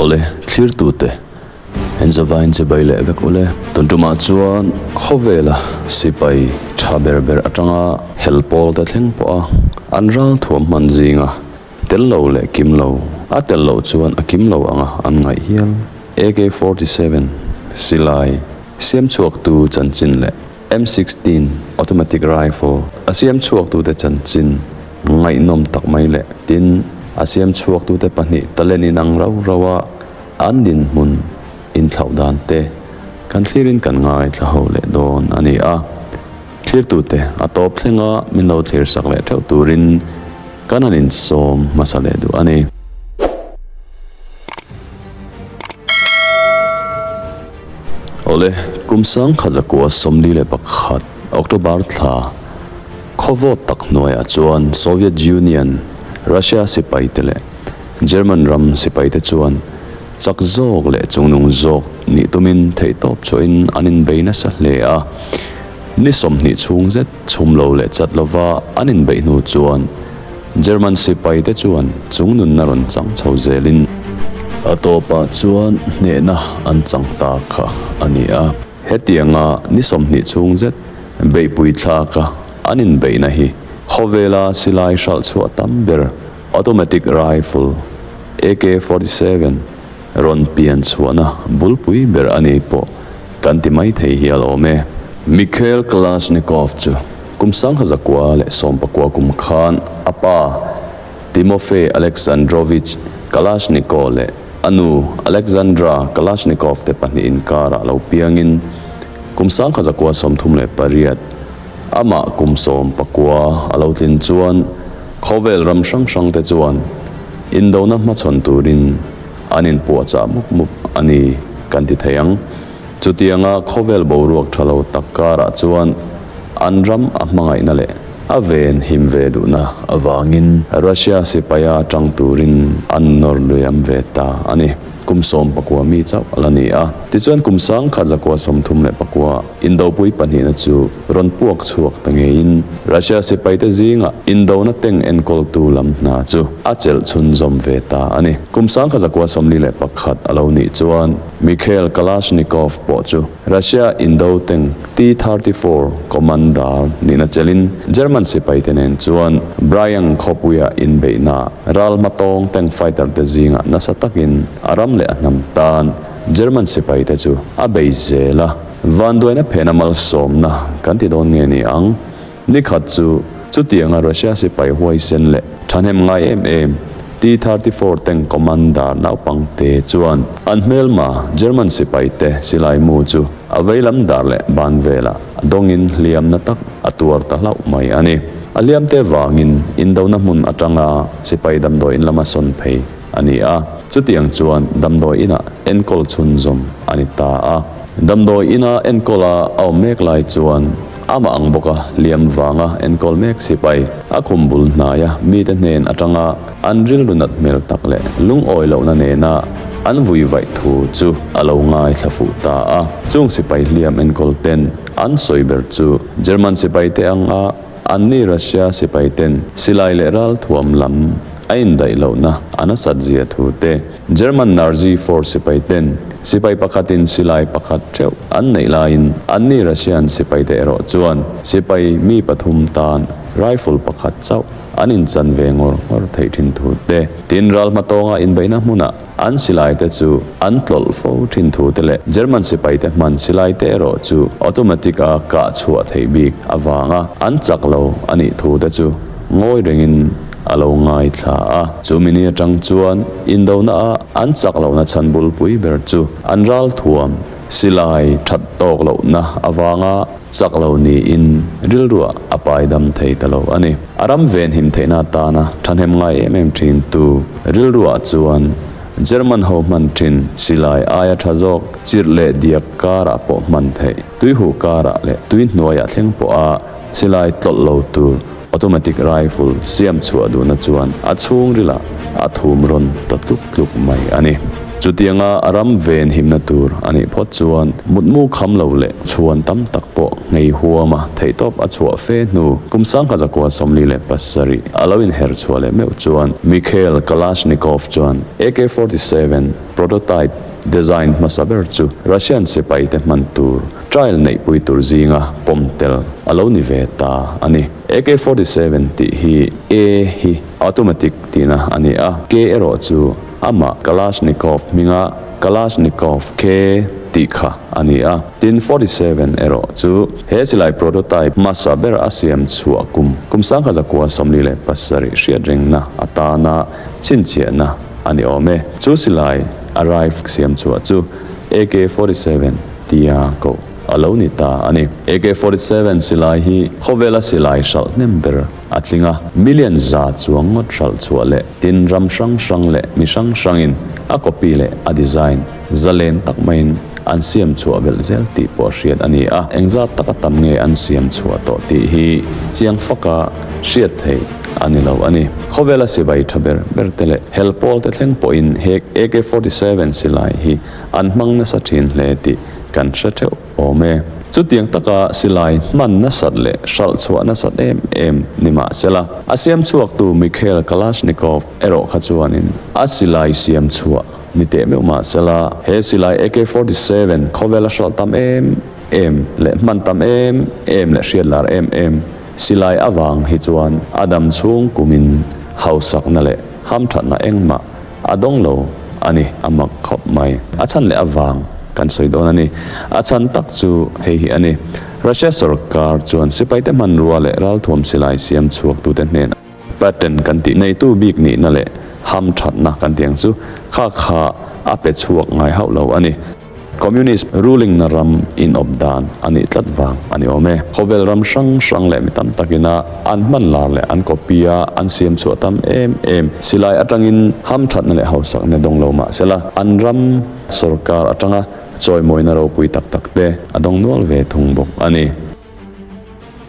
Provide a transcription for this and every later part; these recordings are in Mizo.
Awle thlir tu te en zova in che bai leh vek u le. Tuntumah chuan khawvela sipai tha ber ber atanga hel pawl te thleng pawha an ral thuam hman zinga tel lo leh kim lo a tel loh chuan a kim lo anga an ngaih hial. AK forty seven silai siam chhuak tu chanchin leh. M sixteen Automatic Rifle a siam chhuaktute chanchin ngaihnawm tak mai leh tin a siam chhuaktute pahnih talent in ang rau rau a an dinhmun inthlau dan te kan thlirin kan ngaithla leh dawn a ni a, thlirtute a tawp thleng a min lo thlir sak leh theuh turin kan han insawm hmasa leh duh a ni. Awle, kum sangkhat zakua sawmli leh pakhat October thla khawvawt tak hnuaiah chuan Soviet Union, Russia sipaite leh German ram sipaite chuan chak zawk leh chungnung zawk nih tumin theihtawp chuahin an inbei nasa hle a. Ni sawmhnih chhung zet. Chhum lo leh chat lova an inbeih hnu chuan German sipai te chuan chung nunna rawn chang chho zelin. A tawpah chuan hnehna an chang ta kha a ni a. Hetianga ni sawmhnih chhung zet beihpui thlaka an inbeihna hi khawvela silai hralh chhuah tam ber automatic rifle, AK-47, rawn pian chhuahna bulpui ber a nih pawh kan ti mai thei hi a lawm e. Mikhail Kalashnikov chu kum sangha zakua leh sawm pakua kum khan a pa Timofey Aleksandrovich Kalashnikov leh a nu Alexandra Kalashnikov te pahnih inkar ah lo piangin kum sangha zakua sawmthum leh pariat Amah kum sawm pakua a lo tlin chuan khawvel ram hrang hrangte chuan indona hmachhawn turin an inpuahchah mup mup a ni kan ti thei ang. Chutianga khawvel boruak tha lo tak karah chuan an ram a hmangaihna leh a ven him ve duhna avangin Russia sipaia tang turin an nawr luiam ve ta a ni. Kum sawm pakua mi chauh a la ni a. Tichuan kum sang khat zakua sawmthum leh pakua, Indopui pahnihna chu rawn puak chhuak ta ngeiin Russia sipaite zingah Indona tank enkawltu lam hna chu a chelh chhunzawm ve ta a ni. Kum sangkha zakua sawmli leh pakhat a lo nih chuan Mikhail Kalashnikov pawh chu Russia Indo tank T-thirty four Commander nihna chelhin German sipaite nen chuan Brian Khawpuia inbeihna ral hma tawng tank fighter te zingah nasa takin a ram leh a hnam tan German sipai te chu a bei zel a, vanduaina phehna malsawmna kan ti dawn nge ni ang? Ni khat chu, chutianga Russia sipai huaisen leh thahnem ngai em em T thirty four tank commander naupang te chuan an hmelma German sipai te silai mu chu a veilam dar leh ban vela dawngin hliamna tak a tuar ta hlauh mai a ni. A hliamte vangin indona hmun atanga sipai damdawiin lama sawn phei a ni a. Chutiang chuan damdawi inah enkawl chhunzawm a ni ta a. Damdawi ina enkawl a awm mek lai chuan ama ang bawk a, liam vanga enkawl mek sipai a khum bul hnaia mite hnen atanga an rilru nat hmel tak leh lungawi lohna nena an vui vaih thu chu a lo ngai thla fuh ta a. Chung sipai hliam enkawlten an sawi ber chu German sipaite anga, An ni Russia sipaiten silai leh ral thuam lam a indaih lohna a nasat zia thu te, German Narzy force sipaiten sipai pakhatin silai pakhat ṭheuh an neih laiin an ni Russian sipaite erawh chuan sipai mi pathum tan rifle pakhat chauh an inchan ve ngawr ngawr theih ṭhin thu te, tin ral hma tawnga inbeihna hmuna An silaite chu an tlawlh fo thin thute leh German sipaite hman silaite erawh chu automatic a kah chhuah theih bik avanga an chak lo a nih thute chu ngawi rengin a lo ngaithla a. Chu mini atang chuan indona a an chak lohna chhan bulpui ber chu an ral thuam silai that tawk lohna avanga, chak lo niin rilruah a paidam thei ta lo a ni. A ram venhim theihna atana thahnem ngai em em thintu rilruah chuan German ho hman thin silai aia tha zawk chirh leh diak karah pawh hman theih, tuihuh karah leh tui hnuaiah thleng pawha silai tlawlh lo tur, Automatic rifle siam chhuah duhna chuan a chhungrilah a thum rawn ta tluk tluk mai a ni. Chutianga a ram ve inhimna tur a nih phawt chuan mutmu kham lo leh chhuan tam tak pawh ngei huam a, theihtawp a chhuah fe hnu kum sangha zakua sawmli leh pasarih a lo inher chhuah leh meuh chuan Mikhail Kalashnikov chuan AK forty seven prototype design hmasa ber chu Russian sipaite hman tur Trial neihpui tur zinga pawm tel a lo ni ve ta a ni. Ak forty seven tih hi A hi automatic tihna a ni a, K erawh chu amah Kalashnikov hminga Kalashnikov K tih kha a ni a, tin forty seven erawh chu he silai prototype hmasa ber a siam chhuah kum kum sangha zakua sawmli leh pasarih hriat rengna atana chhinchhiahna a ni awm e. Chu silai a rifle siam chhuah chu Ak forty seven tia koh a lo ni ta a ni. AK forty seven silai hi khawvela silai hralh hnem ber a tling a, million za chuang ngawt hralh chhuah leh tin ram hrang hrang leh mi hrang hrangin a copy leh a design za len tak maiin an siam chhuah belh zel tih pawh hriat a ni a, eng zat taka tam nge an siam chhuah tawh tih hi chiang faka hriat theih a ni lo a ni. Khawvela sivai tha ber ber te leh hel pawl te thleng pawhin he AK forty seven silai hi an hmang nasa thin hle tih kan hre theuh awm e. Chutiang taka silai hman nasat leh hralh chhuah nasat em em ni mah sela, a siamchhuaktu Mikhail Kalashnikov erawh kha chuanin a silai siam chhuah ni teh meuh mah sela, he silai AK forty seven khawvela hralh tam em em leh hman tam em em leh hriatlar em em silai avang hi chuan a dam chhung kumin hausakna leh hamthatna engmah A dawng lo a ni a mak khawp mai. A chhan leh a vang kan sawi dawn a ni. A chhan tak chu hei hi a ni, Russia sorkar chuan sipaite hmanrua leh ralthuam silai siam chhuaktute hnenah Patton kan tih neitu bik nihna leh hamthatna kan tih ang chu kha kha a pe chhuak ngai hauh lo a ni. Communist ruling na ram inawp dan a nih tlat vang a ni awm e. Khawvel ram hrang hrang leh mi tam tak ina an hman lar leh an copy a, an siam chhuah tam em em. Silai atangin ham thatna leh hausak na dawng lo mahse la, an ram, sorkar atanga chawimawina ropui tak tak te a dawng nual ve thung bawk a ni.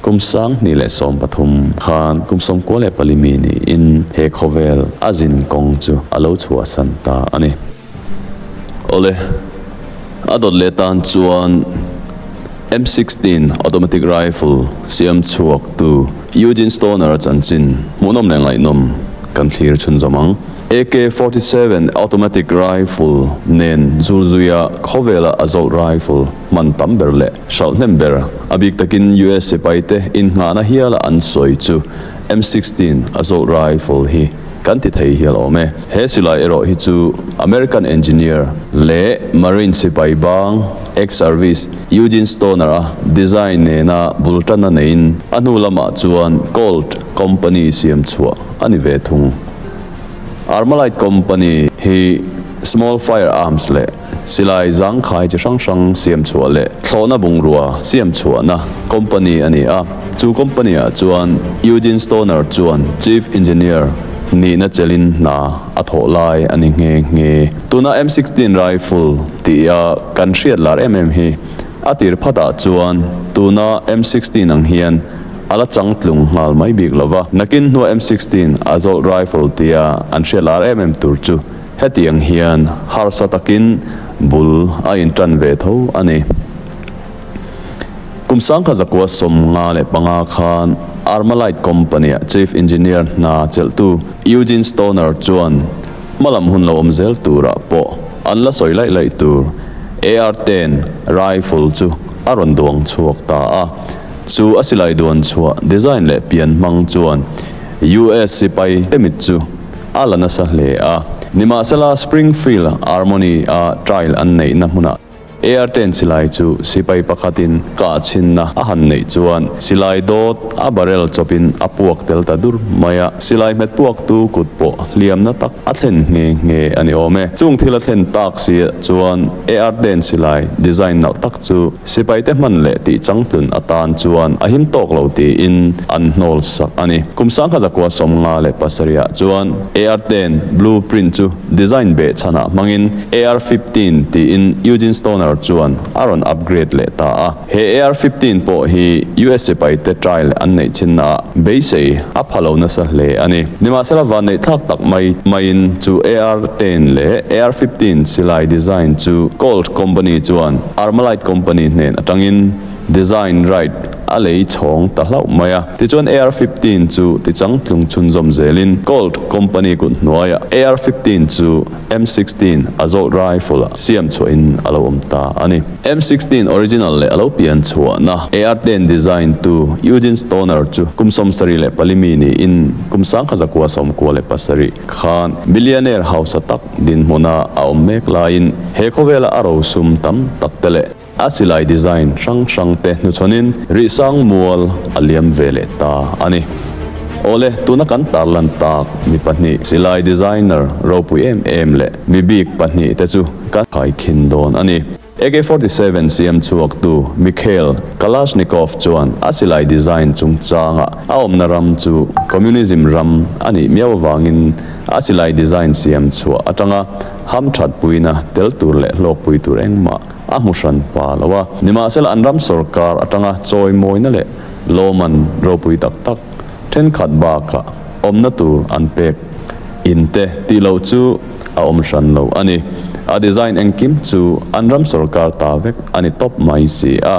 Kum sanghnih leh sawm pathum khan kum sawm kual leh pali mi niin he khawvel a zin kawng chu a lo chhuahsan ta a ni. Awle, a dawt leh tan chuan M sixteen Automatic Rifle siam chhuak tu Eugene Stoner-a chanchin hmuhnawm leh ngaihnawm kan thlir chhun zawm ang. AK forty seven Automatic Rifle nen zul zuia khawvela a zawlh rifle hman tam ber leh hralh hnem ber a bik takin US sipai te in nghah na hial a an sawi chu M sixteen assault rifle hi kan ti thei hial awm e. He silai erawh hi chu American engineer leh Marine sipai bang ex service Eugene Stoner a design nena bul tan a neiin a hnu lamah chuan Colt company siam chhuah a ni ve thung. Armalite company hi small fire arms leh Silai zangkhai chi hrang hrang siam chhuah leh thlawhna bungrua siam chhuahna company a ni a, chu company ah chuan Eugene Stoner chuan Chief Engineer nihna chelin hna a thawh lai a ni nghe nghe. Tuna M sixteen rifle tih a kan hriat lar em em hi a tir phatah chuan tuna M sixteen ang hian a la chang tlung nghal mai bik lo va, nakin hnuah M sixteen a zawlh rifle tia an hriat lar em em tur chu, Hetiang hian harsa takin bul a intan ve tho a ni. Kum sangkhat zakua sawm nga leh panga khan Armalite company-a chief engineer hna chelhtu Eugene Stoner chuan hma lam hun lo awm zel turah pawh an la sawi laih laih tur AR ten rifle chu a rawn duang chhuak ta a. Chu a silai duan chhuah design leh pian hmang chuan US sipai te mit chu a la nasa hle a. Nimahsela Springfield Armony-a trial an neihna hmunah Air ten silai chu sipai pakhatin kahchhinna a han neih chuan silai dawt a barrel chawpin a puak tel ta dur mai a. Silai hmet puaktu kut pawh hliamna tak a thlen nghe nghe a ni awm e. Chung thil a thlen tak si ah chuan Air ten silai design nalh tak Chu sipaite hman leh tih changtlun atan chuan a him tawk lo tiin an hnawl sak a ni. Kum sangkha zakua sawm nga leh pasariah chuan AR ten Blue Print chu design beh chhanah hmangin AR fifteen tiin Eugene Stoner chuan a rawn upgrade leh ta a. He AR fifteen pawh hi US sipaite trial an neih chinnaah beisei a pha lo nasa hle a ni. Nimasara vanneih thlak tak mai maiin chu AR ten leh AR fifteen silai design chu Colt company chuan Armalite company hnên aṭangin design right a lei chhawng ta hlauh mai a. Tichuan AR fifteen chu tichang tlung chhunzawm zêlin Colt company kut hnuaiah AR fifteen chu. M sixteen a zawh rifle ah siam chhuah in a lo awm ta a ni. M sixteen original leh a lo pian chhuahna AR ten design tu Eugene Stoner chu kum sawmsarih leh pali mi niin kum sangkha zakua sawmkua leh pasarih khan millionaire hausa tak dinhmuna a awm mek laiin he khawvela a rosum tam tak te leh A silai design hrang hrangte hnuchhanin rihsang mual a liam ve leh ta a ni. Awle, tuna kan tar lan tak mi pahnih silai designer ropui em em leh mi bik pahnih te chu kan thaikhin dawn a ni. Ak forty seven siamchhuaktu Mikhail Kalashnikov chuan a silai design chungchanga a awmna ram chu Communism ram a nih miau avangin a silai design siamchhuah atanga hamthatpuina tel tur leh hlawkpui tur engmah a hmuhran pa lo a, nimahsela an ram sawrkar atanga chawimawina leh lawman ropui tak tak thenkhat bakah awmna tur an pek in te tih loh chu a awm hran lo a ni. A design engkim chu an ram sawrkar ta vek a ni tawp mai si a,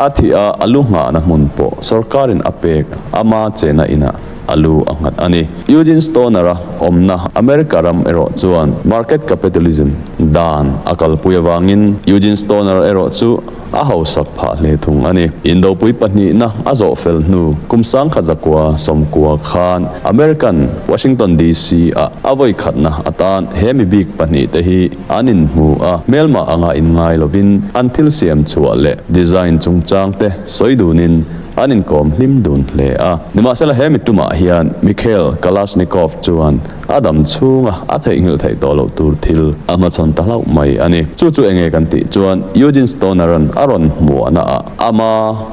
a thih a a lu nghahna hmun pawh sawrkarin a pek a ma chena inah. a lu a nghat a ni. Eugene Stoner-a awmna America ram erawh chuan market capitalism dan a kalpui avangin Eugene Stoner erawh chu a hausak phah hle thung a ni. Indopui pahnihna a zawh fel hnu kum sangkhat zakua sawmkua khan American Washington DC ah a vawi khatna atan he mi bik pahnih te hi an in hmu a, hmelmah anga in ngai lovin an thil siam chhuah leh design chungchang te sawi dunin An inkawm hlim dun hle a. Nimahsela he mi tumah hian Mikhail Kalashnikov chuan a dam chhunga a theihnghilh theih tawh loh tur thil a hmachhawn ta hlauh mai a ni. Chu chu enge kan tih chuan Eugene Stoneran a rawn hmuanaah ama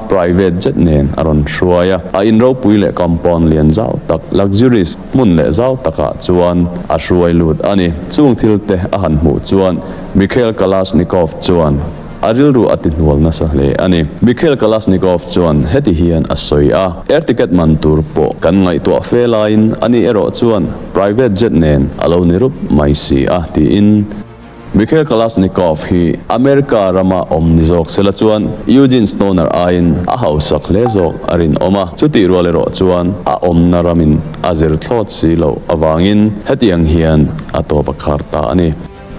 private jet nen a rawn hruai a. A in ropui leh compound lian zau tak, luxurious, hmun leh zau takah chuan a hruai lut a ni. Chung thil te a han hmuh chuan Mikhail Kalashnikov chuan A rilru a tihnual nasa hle a ni. Mikhail Kalashnikov chuan heti hian a sawi a, Air ticket man tur pawh kan ngaihtuah fe laiin a nih erawh chuan private jet nen a lo ni rup mai si a, tiin. Mikhail Kalashnikov hi America rama awm ni zawk sela chuan Eugene Stoner aiin a hausak hle zawk a rinawm a, chutih rual erawh chuan a awmna ramin a zirthlawt si loh avangin hetiang hian a tawp a khar ta a ni.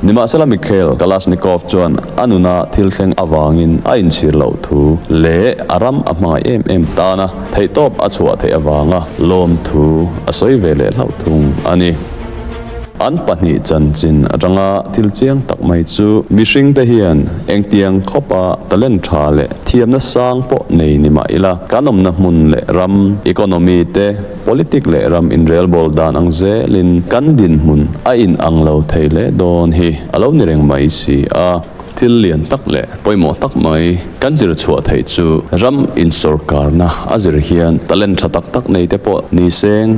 Nimahsela Mikhail Kalashnikov chuan a nuna thil thleng avangin a inchhir loh thu leh a ram a hmangaih em em tana theihtawp a chhuah theih avanga lawmthu a sawi ve leh hlauh thung a ni. An pahnih chanchin atanga thil chiang tak mai chu mihringte hian engtiang khawpa talent tha leh thiamna sang pawh nei ni mah ila kan awmna hmun leh ram, economy, te, Politic leh ram inrelbawl dan ang zelin kan dinhmun a inang lo thei leh dawn hi a lo ni reng mai si a. Thil lian tak leh pawimawh tak mai kan zir chhuah theih chu ram insawrkarna a zir hian talent tha tak tak nei te pawh ni seng.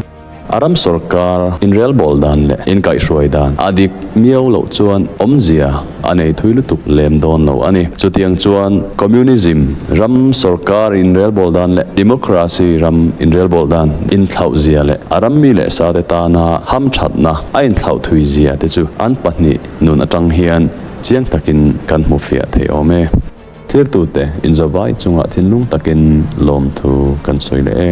A ram sawrkar inrelbawl dan leh inkaihhruai dan a dik miau loh chuan awmzia a nei thui lutuk lem dawn lo a ni. Chutiang chuan Communism ram sawrkar inrelbawl dan leh Democracy ram inrelbawl dan inhlauhzia leh a rammi leh sate tana hamthatna a inthlauh thuizia te chu an pahnih nun atang hian chiang takin kan hmu fiah thei awm e. Thirtute inzawvai chunga thinlung takin lawmthu kan sawi leh e.